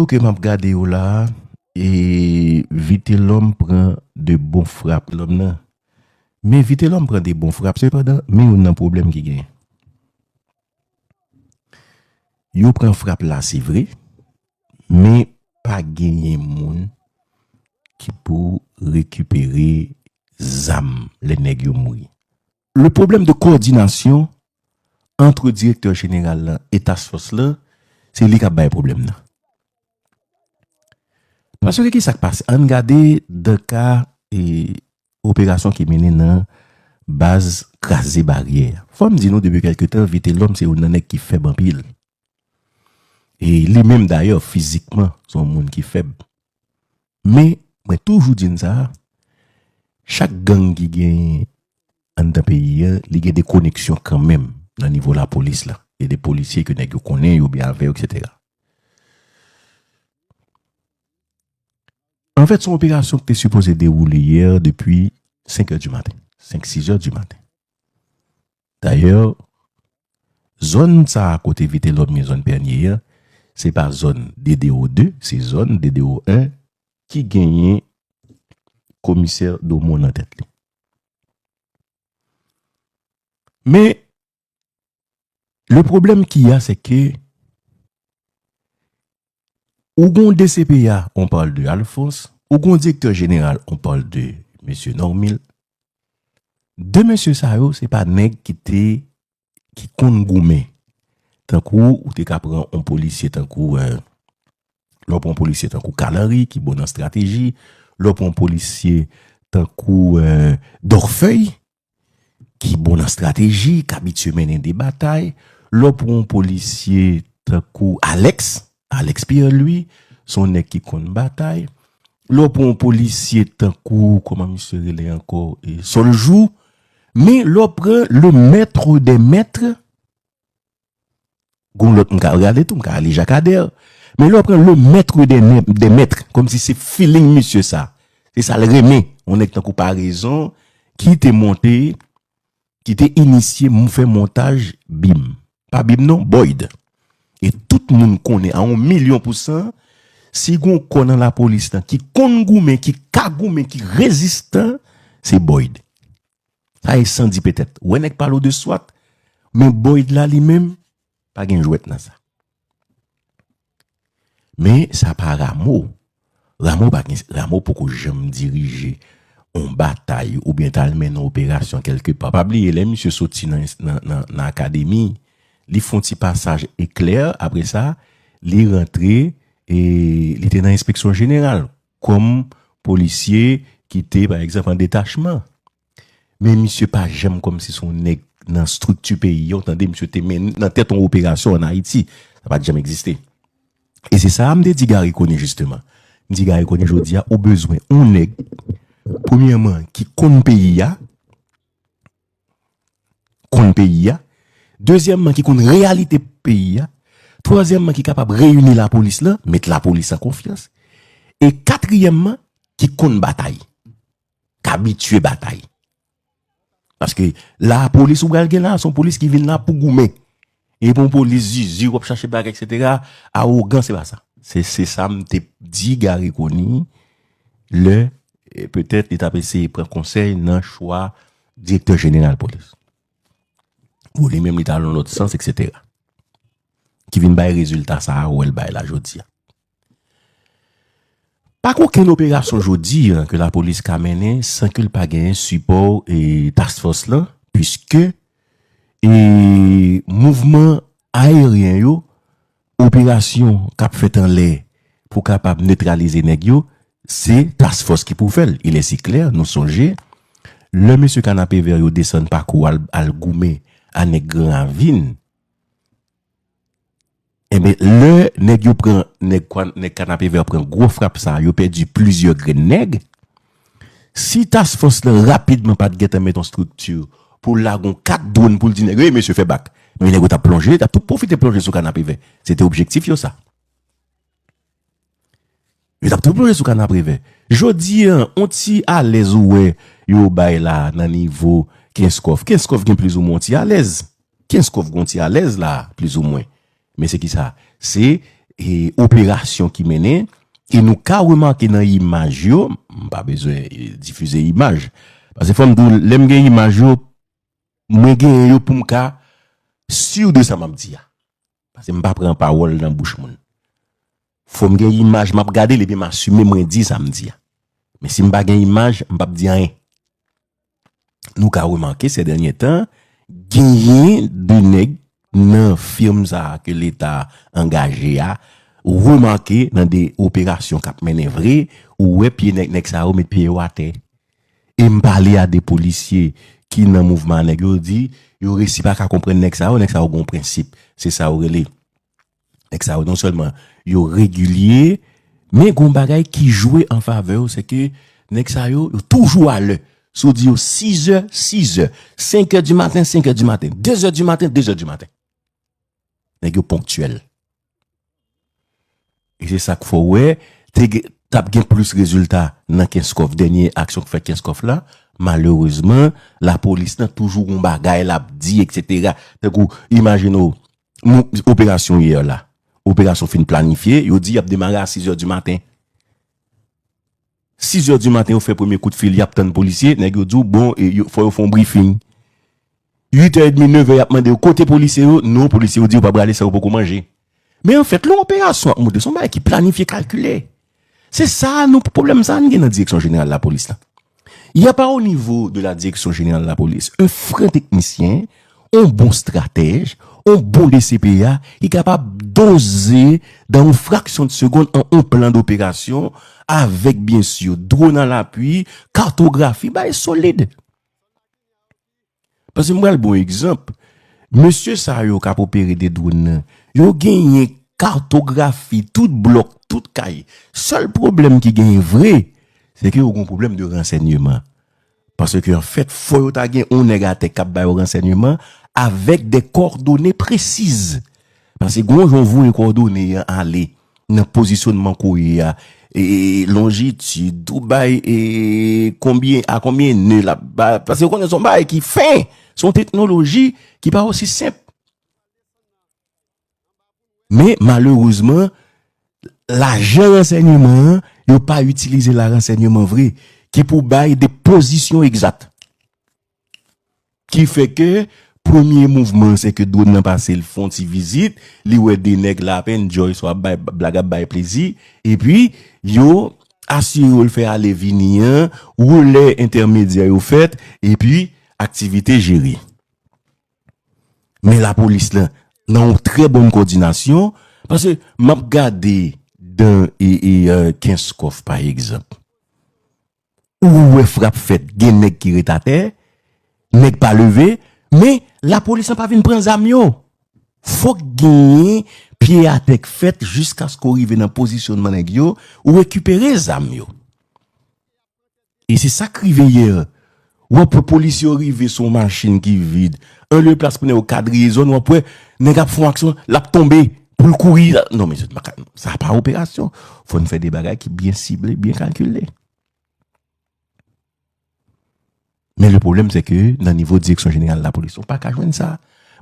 Ok map gade yo la e vitelom pran de bon frap lom nan men vitelom pran de bon frap sepandan men youn nan pwoblem ki gen yo pran frap la se vre men pa genyen moun ki pou rekipere zam le neg yo mouri. Le pwoblèm de kowòdinasyon antre direktè jeneral lan e task fòs lan, se li k ap bay pwoblèm nan. Paske ki sa k pase? Ann gade de ka operasyon ki mennen nan baz kraze baryè. Fò m di nou depi kèlke tan, Vitelòm se youn nan nèg ki fèb anpil. E li menm dayè fizikman se yon moun ki fèb. Men, mwen toujou di n sa, chak gang ki genyen anndan peyi a, li gen de koneksyon kanmenm nan nivo lapolis la. Gen de polisye ke nèg yo konnen yo byen avè yo eksetera. Anfèt, se yon operasyon ki te sipoze dewoule yè depi senkè di maten. Senk, sizè di maten. Dayè, zòn sa a kote Vitelòm ye zòn Pènye a, se pa zòn DDO 2, se zòn DDO 1 ki genyen komisè Domon nan tèt li. Men, lepwoblèm ki a sè ke Ou gon dcpa on parle de Alphonse ou gon direktè jeneral on parle de mesye Normil 2 mesye sa yo se pa nèg ki te ki konn goumen tankou ou te ka pran on polisye tankou lè w pran on polisye tankou Carl Henry ki bon nan strateji lè w pran on polisye tankou Dorfeuille ki bon nan strateji, k abitye mennen de batay, lè w pran yon polisye tankou Alex, Alex Pierre Louis, se yon nèg ki konn batay, lè w pran yon polisye tankou, kòman misye rele ankò, Soljou, men lè w pran le maître des maîtres, Gon lòt m ka gade tou, m ka ale Jakadèr. Men lè w pran le mètre dè mètre dè mètre, kòm si se feeling misye sa. Se sa l renmen. Yon nèg tankou Paraison ki te monte, ki te inisye m fè montaj Bim. Pa Bim non, Boyd. E tout moun konnen a yon milyon pou san, si gon kò nan lapolis lan ki konn goumen, ki ka goumen, ki rezistan, se Boyd. Sa e san di petèt. Wè nèg palo de swat, men Boyd la li menm, pa gen jwèt nan sa. Men sa pa Ramo. Ramo pa gen, Ramo poko janm dirije yon batay ou byen tal men yon operasyon kelke pa. Pa bliye lè misye soti nan akademi, li fon ti pasaj eklè, apre sa, li rantre, li te nan enspeksyon jeneral. kòm polisye ki te pa egzanp an detachman men misye pa janm kòm si son nèg nan strikti peyi yo tande misye te men nan tèt yon operasyon an ayiti sa pat janm egziste e se sa a m te di Garry Conille jisteman m di Garry Conille jodi a ou bezwen yon nèg premyèman ki konn peyi a. konn peyi a, dezyèmman ki konn reyalite peyi a, twazyèmman ki kapab reyini lapolis lan, met lapolis an konfyans, e katriyèmman ki konn batay, k abitye batay. Paske lapolis ou pral gen la a se yon polis ki vin la pou goumen, E pou yon polis zuzu wap chache bagay etc. Arogan se pa sa. Se sa m te di Garry Conille lè petèt li tap eseye pran konsèy nan chwa direktè jeneral polis. Bon li menm li t al yon lòt sans etc. Ki vin bay rezilta sa a ou wè l bay la jodi a. Pa gen okenn operasyon jodi a ke lapolis ka mennen san ke l pa genyen sipò task force lan puiske mouvman aeryen yo, operasyon k ap fèt anlè pou kapab netralize nèg yo se task force ki pou fè l. Il ainsi clair nou sonje lè mesye kanapevè yo desann Pakou al goumen a nèg Gran Ravin. Enben, lè nèg yo pran, nèg nèg Kanapevè pran gwo frap sa a, yo pèdi plizyè grenn nèg, si task fòs lan rapidman pa t gentan met yon estrikti pou l lage yon kat dwonn pou l di nèg yo, ey mesye fè bak, men nèg yo t ap plonje, t ap tou pwofite plonje sou Kanapevè. Se te objektif yo sa. Yo tap tou plonje sou kana prevè. Jodi an, on ti alèz ou wè yo bay la nan nivo kenskof. Kenskof gen plizoumwen on ti alèz. Kenskof gen on ti alèz la plizoumwen. Men se ki sa? Se operasyon ki mennen e nou ka remake nan imaj yo, m pa bezwen difize imaj. Pase fòm di w lèm gen imaj yo, mwen genyen yo poum ka sur de sa map di a. Pase m pa pran pawòl nan bouch moun. Fò m gen imaj m ap gade l epi m asime mwen di sa m di a. Men si m pa gen imaj, m p ap di anyen. Nou ka remake sè dènye tan, genyen de nèg nan firm sa a ke leta angaje a, ou remake nan de operasyon k ap mennen vre, ou wè pye nèg sa yo met pye yo atè. E m pale a 2 polisye ki nan mouvman a nèg yo di yo resi pa ka konprann nèg sa yo, nèg sa yo gen yon prensip se sa yo rele nèg sa yo non sèlman yo regilye men gen yon bagay ki jwe an favè yo se ke nèg sa yo yo toujou a lè si w di yo 6 zè 6 zè 5 è di maten 5 è di maten 2 zè di maten 2 zè di maten nèg yo ponktyèl E se sa k fè w wè, te gen, t ap gen plis rezilta nan Kenskòf, dènye aksyon k fèt Kenskòf la. Malerezman, lapolis nan toujou gon bagay l ap di eksetera. Tankou, imajine w, nou, operasyon yè la. Operasyon fin planifye, yo di y ap demare a sizè di maten. 6 heures du matin ou fè premye kout fil yap tann polisye, nèg yo diw bon fò yo fon briefing. 8 heures et demi 9 heures yap mandew kote polisye yo, non polisye yo diw pa prale sa yo poko manje. Men an fèt lè yon operasyon ap moute son bagay ki planifye kalkile. Se sa nou pwoblèm sa nou gen nan direksyon jeneral la polis la. Ya pa o nivo de la direksyon jeneral la polis, un fren teknisyen. yon bon stratèj, yon bon DCPA ki kapab doze dan yon fraksyon de segonn an yon plan doperasyon avèk byen sur dron a lapui, kartografi bay solid. Pase m pral ba w egzanp, mesye sa yo k ap opere de dron nan, yo genyen kartografi tout blòk, tout kay. Sèl pwoblèm ki genyen vre, se ke yo gen yon pwoblèm de ransènyeman. Paske an fèt, fò yo ta gen yon nèg atè k ap ba yo ransèyeman avèk de kòdone presiz. Paske gen yon jan w voye kòdone an ale nan pozisyonnman kou ye a, lonjitid, ou bay e konbyen, a konbyen ne l ap ba, paske ou konnen s on bagay ki fen, s on teknoloji ki pa osi senp. Men malerezman lajan ransèyman an yo pa itilize la ransèyman vre ki pou bay de pozisyon egzat. Ki fè ke premye mouvman se ke dron nan pase li fon ti vizit, li wè de nèg la ap enjoy swa ap bay blag ap bay plezi epi yo asire yo l fè ale vini an, relè entèmedyè yo fèt epi aktivite jere. Men lapolis la nan yon trè bòn kòdinasyon pase m ap gade dan e e kenskòf pa egzanp ou wè frap fèt gen nèg ki ret atè nèg pa leve men lapolis la pa vin pran zam yo fòk genyen pye atè k fèt jiskaske w rive nan pozisyònman nèg yo ou rekipere zam yo. E se sak rive yè an. Wap wè polisye yo rive sou yon machin ki vid, anlye plas pou nèg yo kadrye zòn wap wè nèg ap fon aksyon lap tonbe poul kouri non mezanmi m paka sa pa operasyon fòn fè de bagay ki byen sible byen kalkile. Men le pwoblèm se ke nan nivo direksyon jeneral lapolis ou paka jwenn sa.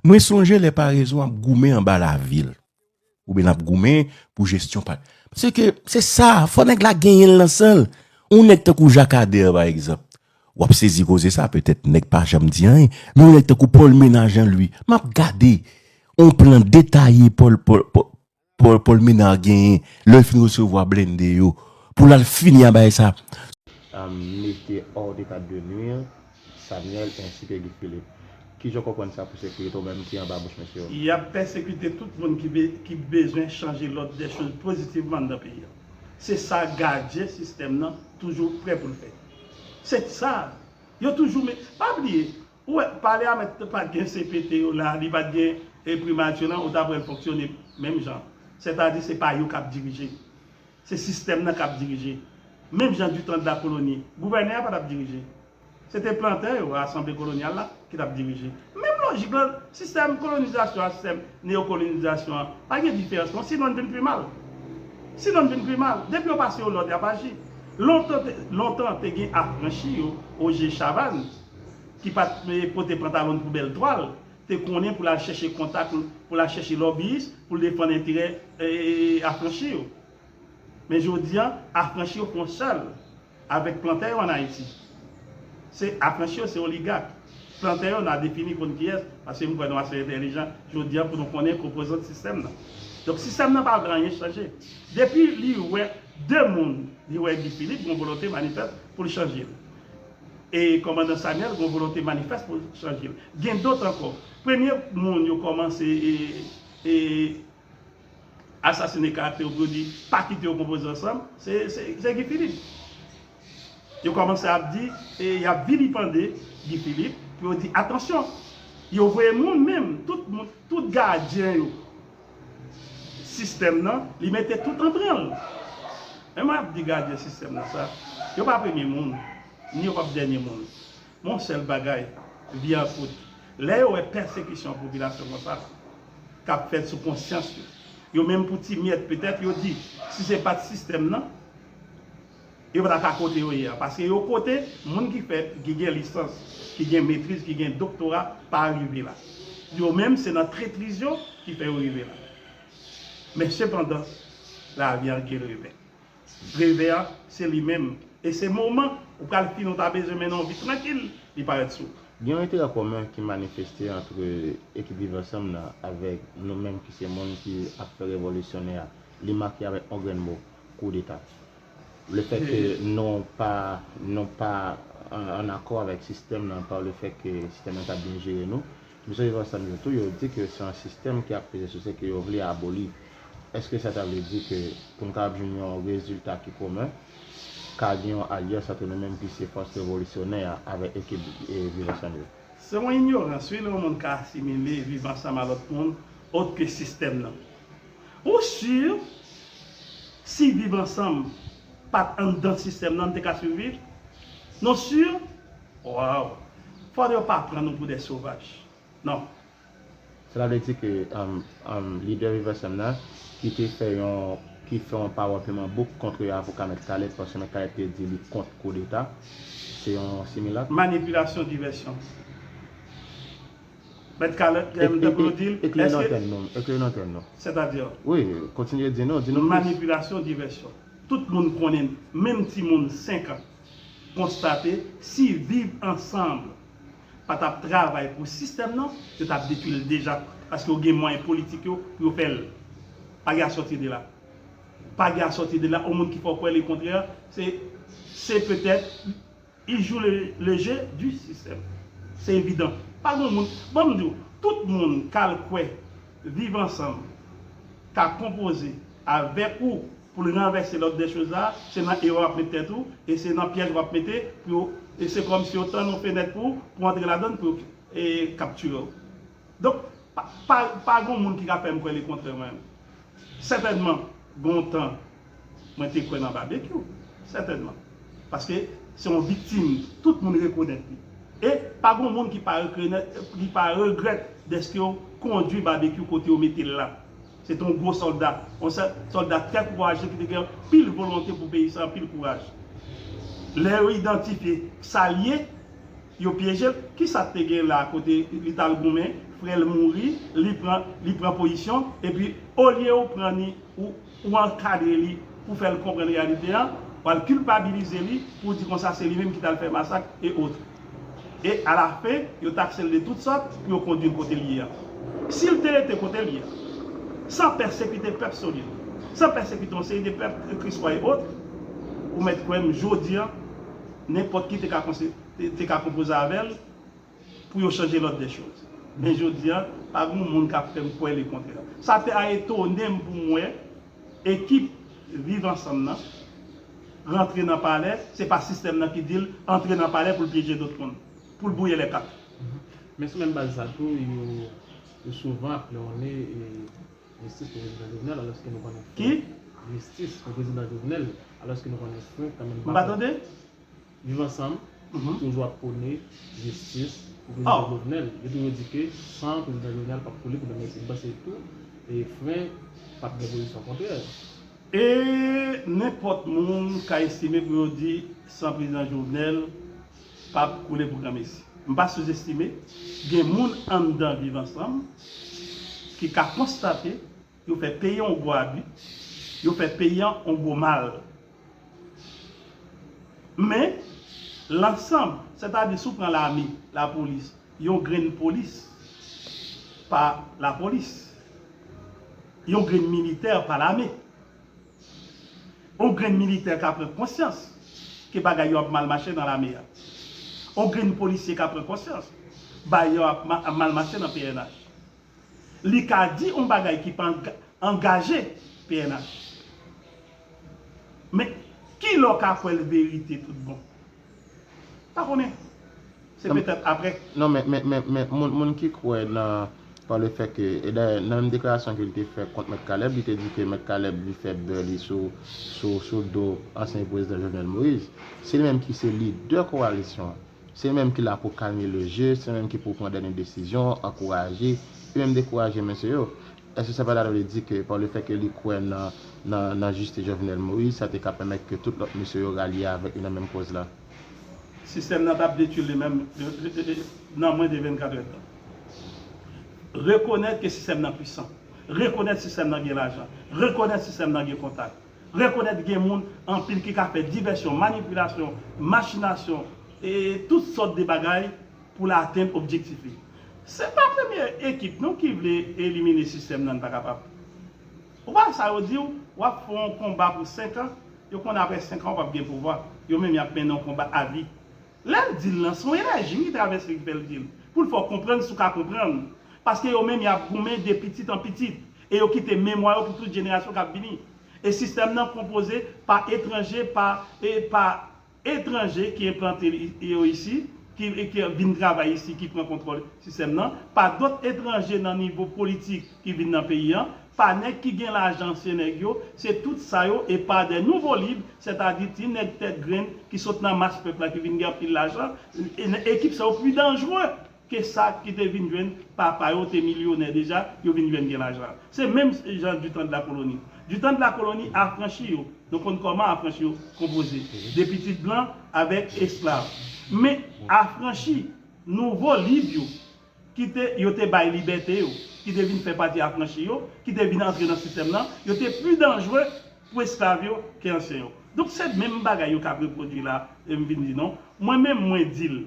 Mwen sonje lè parèzon ap goumen anba lavil. Ou byen ap goumen pou jesyon pa. Se ke se sa, fò nèg la genyen l nan san l. Ou nèg tankou Jakadè pa egzanp. Ou ap sezi koze sa, petèt nèg pa janm di anyen. Men ou nèg tankou Pòl Mena Jan Lwi. M ap gade on plan detaye Pòl Pòl Mena genyen. Lè l fin resevwa blende yo. Pou l al fini a bagay sa. Mete hors d'état de nuire Samuel un tipe Guy Philippe. Kijan w konprann sa pou sekirite w menm ki anba bouch mesye yo? Y ap pèsekite tout moun ki bezwen chanje lòd dè choz pozitivman anndan peyi a. Se sa gadyen sistèm nan toujou prè pou l fè. Se sa yo toujou met. Pa bliye, ou wè palè a mèt pa t gen CPT yo la, li pa t gen Primati yo la, ou t ap wè l fonksyone menm jan. Sètadi se pa yo k ap dirije. Se sistèm nan k ap dirije. Menm jan ditan la koloni, gouvènè a pa t ap dirije. Se te plantè yo, asanble kolonyal la, ki t ap dirije. Menm lojik lan, sistèm kolonizasyon ak sistèm neyokolonizasyon an pa gen diferans non, sinon li vin pi mal. Sinon li vin pi mal. Depi yo pase yon lòd, y ap aji. Lontan, lontan te gen afranchi yo oje chavàn ki pa t pote pantalon pou bèl twal, te konnen pou l al chèche kontak, pou l al chèche lòbiyis, pou l defann enterè afranchi yo. Men jodi a, afranchi yo fon sèl avèk plantè yo an Ayiti. Se afranchi yo se oligak. Plantè yo na defini konn kiyès, paske m kwè nou ase entèlijan jodi a pou nou konnen konpozant sistèm nan. Donk sistèm nan pa vle anyen chanje. Depi li wè 2 moun, li wè Guy Philippe gen yon volonte manifès pou l chanje l. E kòmandan Samuel gon volonte manifès pou chanje l. Gen dot ankò. Premye moun yo kòmanse e asasine karaktè yo pou yo di pa kite yo konpoze ansanm, se Guy Philippe. Yo kòmanse ap di e y ap vilipande Guy Philippe pou yo di atansyon. Yo voye moun menm, tout gadyen yo. sistèm nan li mete tout anpranl men mwen ap di gadyen sistèm nan sa yo pa premye moun ni yo pap dènye moun men yon sèl bagay vi an kout lè yo wè pèsekisyon popilasyon konsa kap fèt sou konsyans yo yo menm pou ti myèt petèt yo di si se pat sistèm nan. Yo pa ta ka kote yo ye a paske yo kote moun ki fè, ki gen lisans, ki gen metriz, ki gen doktora pa rive la. Yo menm se nan tretriz yo ki fè yo rive la. Men sepandan, lavi an gen revè. Revè an se li menm e se moman ou pral fin ou ta bezwen mennen yon vi trankil li parèt sou ou. Gen yon enterè komen ki manifeste antre ekip Viv Ansanm nan avèk nou menm ki se moun ki ap fè revolisyone a. Li make avèk yon grenn mo. koudeta. Le fèt ke nou pa nou pa an akò avèk sistèm lan pa le fèt ke sistèm lan ta byen jere nou. Misyon Viv Ansanm yo tou yo di ke se yon sistèm ki ap peze sou se ke yo vle aboli. Eske sa ta vle di ke pou nou kapab jwenn yon rezilta ki komen, ka gen yon alyans antre nou menm ki se fòs revolisyonè a avèk ekip Viv Ansanm yo? Se yon inyorans wi lè yon moun ka asimile Viv Ansanm a lòt moun ot ke sistèm lan. Ou sur si viv ansanm pat anndan sistèm nan nou te ka surviv non sur waww fò yo pa pran nou pou de sovaj non. Sela vle di ke lidè viv ansanm nan ki te fè yon ki fè yon pawòl piman bouk kontre avoka mèt Kalèt paske mèt Kalèt te di li kont koudeta se yon similat. Manipilasyon divèsyon. Mèt kalòt lè m tap di l èske. Eklere lantèn nou. Sètadi. Wi, kontinye di nou, di nou plis. Manipilasyon divèsyon. Tout moun konnen, menm timoun senkan konstate si viv ansanm pa tap travay pou sistèm nan, yo tap detwi l deja paske yo gen mwayen politik yo pou yo fè l. Pa gen asòti de la. Pa gen asòti de la, yon moun ki fè w kwè lekontrè se se petèt. I jou le le je du sistèm. Se evidan. Pa gen moun, ban m di w, tout moun k al kwè viv ansanm ka konpoze avèk ou pou l ranvèse lòd dè choz la, se nan erè w ap met tèt ou e se nan pyèj w ap mete pou yo e se kòmsi yo tann yon fenèt pou w pou w antre ladann pou yo kaptire w. Donk, pa, pa gon moun ki ka fè m kwè lekontrè mwen menm. Sètènman, gon tan, mwen te kwè nan Babekyou. Sètènman. Paske, se yon viktim, tout moun rekonèt li. E, pa gon moun ki pa rekrenèt, ki pa regrèt dèske yo kondui Babekyou kote yo mete l la. Se te yon gwo sòlda. Yon sè, sòlda trè kouraje ki te gen anpil volonte pou peyi sa, anpil kouraj. Lè yo idantifye sa l ye. Yo pyeje l, kisa te gen la kote li tal goumen, frè l mouri, li pran li pran poisyon, epi olye ou pran ni ou ou ankadre li pou fè l konprann reyalite an, wal kilpabilize li pou w di konsa se li menm ki tal fè masak e otre. E a la fen yo takse l de tout sòt pou yo kondwi l kote l ye an. Si l te rete kote l ye an, san pèsekite pèp solil, san pèsekite yon seri de pèp, kris wa e otre, ou mèt kwè m jodi an nenpòt ki te ka konpoze avè l pou yo chanje lòd dè choz. Men jodi a, pa gen yon moun k ap fè m kwè lekontrè. Sa te a etone m pou m wè ekip Viv Ansanm nan rantre nan palè, se pa sistèm nan ki di l antre nan palè pou l pyeje dòt moun, pou l bwouye lèkat. Men sou menm baz sa tou, yo souvan ap klewonnen. Jistis pou prezidan jovenel aloske nou konnen frenk. Ki? Jistis pou prezidan jovenel aloske nou konnen frenk tanmen nou pa pè. M pa tande? Viv ansanm toujou ap pwone jistis pou prezidan jovenel yo toujou di ke san prezidan jovenel pap koule pou dam ayisyen m panse tou frenk pap gen pozisyon kontrè. E nenpòt moun ka estime pou yo di san prezidan jovenel Pap koule pou granmesi. M pa souzestime, gen moun anndan Viv Ansanm ki ka konstate yo fè peyi an yon gwo abi, yo fè peyi an yon gwo mal. Men, lansanm, sètadi si w pran lame, lapolis, yon grenn polis pa lapolis, yon grenn militè pa lame, On grenn militè ka pran konsyans ke bagay yo ap mal mache nan lame a. On grenn polisye ka pran konsyans bay yo ap mal mache nan pnh. Li ka di on bagay ki pa angaje pnh. Men, kilè w ka kwè l verite tout bon? Pa konnen. Se petèt apre. Non men, men, men, men, moun, moun ki kwè nan, pa le fè ke, e dayè, nan menm deklarasyon ke li te fè kont Mèt Kalèb, li te di ke Mèt Kalèb li fè bè li sou, sou, sou do ansyen prezidan Jovenel Moïse. Se li menm ki se lidè kowalisyon an. Se li menm ki la pou kalme le jeu, se li menm ki pou pran dènye desizyon, ankouraje, e menm dekouraje mesye yo. Èske sa pa ta vle di ke pa le fè ke li kwè nan jistis Jovenel Moïse, sa te ka pèmèt ke tout lòt mesye yo ralye avèk li nan menm kòz la? Sistèm nan tap detwi li menm nan mwen de 24 èd tan. Rekonèt ke sistèm nan pwisan. Rekonèt sistèm nan gen lajan. Rekonèt sistèm nan gen kontak. Rekonèt gen moun anpil ki ka fè divèsyon, manipilasyon, machinasyon, e tout sòt de bagay pou l atenn objektif li. Se pa premye ekip non ki vle elimine sistèm nan pa kapab. Ou pa wè sa yo diw wap fè yon konba pou 5 an, yo konn aprè 5 an ou pap gen pouvwa, yo menm yap mennen yon konba a vi. Lèl dil lan son enèji wi travèse ki fèl dil poul fè w konprann si w ka konprann paske yo menm yap goumen de pitit an pitit e yo kite memwa yo pou tout jenerasyon kap vini e sistèm nan konpoze pa etranje pa e pa etranje ki enplante yo isi, ki vin travay isi, ki pran kontwòl sistèm nan, pa dòt etranje nan nivo politik ki vin nan peyi an, pa nèg ki gen lajan ansyen nèg yo, se tout sa yo e pa dè nouvo lib, sètadi ti nèg tèt grenn ki sot nan mas pèp la ki vin gen anpil lajan, ekip sa yo pi danjre. Ke sa ki te vin jwenn papa yo te milyonè deja, yo vin jwenn gen lajan. Se menm jan du tan de la koloni. Du tan de la koloni, afranchi yo, nou konn kòman afranchi yo konpoze. De pitit blan avèk esklav. Men afranchi, nouvo lib yo, ki te, yo te bay libète yo, ki te vin fè pati afranchi yo, ki te vin antre nan sistèm nan, yo te pli danjre pou esklav yo ke ansyen yo. Donk se menm bagay yo kap repwodui la, e m vin di non. Mwen menm mwen di l.